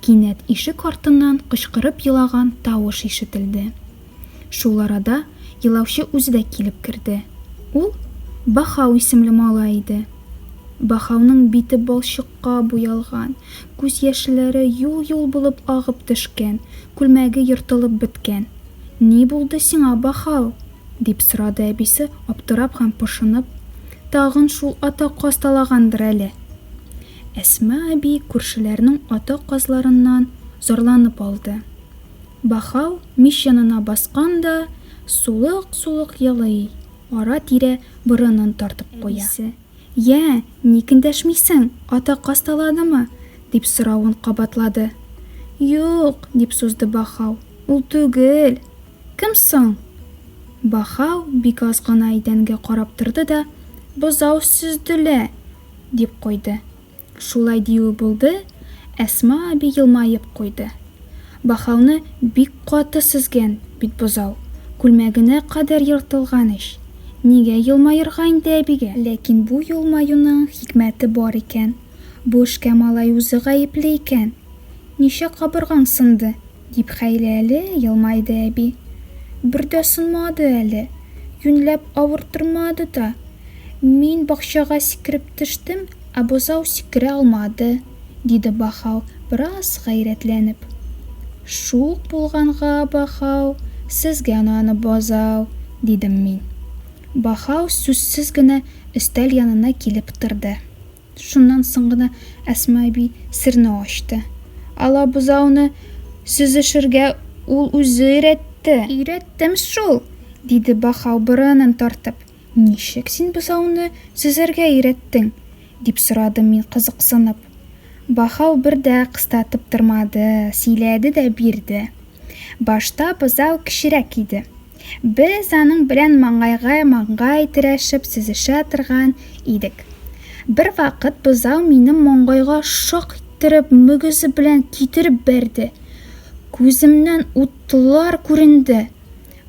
Кинәт ишек артыннан кычкырып елаган тавыш ишетелде. Шул арада елаучы үзе дә килеп керде. Ул, Баһау исемле малай иде. Баһауның бите балчыкка буялган, күз яшьләре юл-юл булып агып төшкән, күлмәге ертылып беткән. Ни булды сиңа, Баһау? дип сорады әбисе, аптырап һәм пошынып. Тагын шул ата каз талагандыр әле. Әсма әби күршеләрнең ата казларыннан зарланып алды. Бахау мич янына баскан да, сулык-сулык елый, ара-тирә борынын тартып куя. Әбисе, Йә, ник эндәшмисең, ата каз таладымы? дип соравын кабатлады. Юк, дип сузды Бахау, ул түгел. Кем соң? Бахау бик аз гына идәнгә карап торды да, Бозау Сөзделә! дип куйды. Шулай диюе булды, Әсма әби елмаеп куйды. Бахауны бик каты сөзгән бит бозау, күлмәгенә кадәр ертылган ич! Нигә елмаерга инде әбигә? Ләкин бу елмаюның хикмәте бар икән, бу эшкә малай үзе гаепле икән! Ничә кабыргаң сынды? Дип хәйләле елмайды әби. Бер дә сынмады әле, юньләп авырттырмады да. Мин бакчага сикереп төштем, ә бозау сикерә алмады, диде Бахау, бераз гайрәтләнеп. Шук булганга, Бахау, сезгә наны бозау, дидем мин. Бахау сүзсез генә өстәл янына килеп торды. Шуннан соң гына Әсма әби серне ачты. Алабузауны сөзешергә ул үзе өйрәтте. Өйрәттем шул! диде Бахау борынын тартып. Ничек син бозауны сөзәргә өйрәттең? дип сорадым мин кызыксынып. Бахау бер дә кыстатып тормады, сөйләде дә бирде. Башта бозау кечерәк иде. Без аның белән маңгайга-маңгай терәшеп сөзешә торган идек. Бервакыт бозау минем маңгайга шак иттереп мөгезе белән китереп бәрде. Күземнән утлар күренде,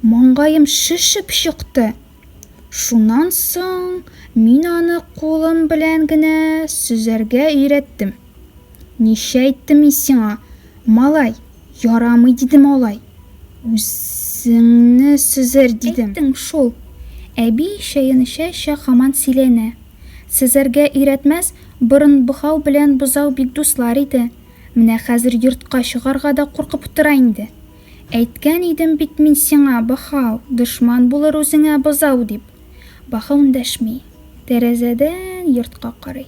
маңгаем шешеп чыкты. Шуннан соң мин аны кулым белән генә сөзәргә өйрәттем. Ничә әйттем мин сиңа, малай, ярамый дидем алай. Үзеңне сөзәр дидем. Әйттең шул. Әби чәен эчә-эчә хаман сөйләнә. Сөзәргә өйрәтмәс, борын богау белән бозау бик дуслар иде. Менә хәзер йортка чыгарга да куркып утыра инде. Әйткән идем бит мин сиңа, бохау, дошман булыр үзеңә бозау дип. Бохау эндәшми. Тәрәзәдән йортка карый.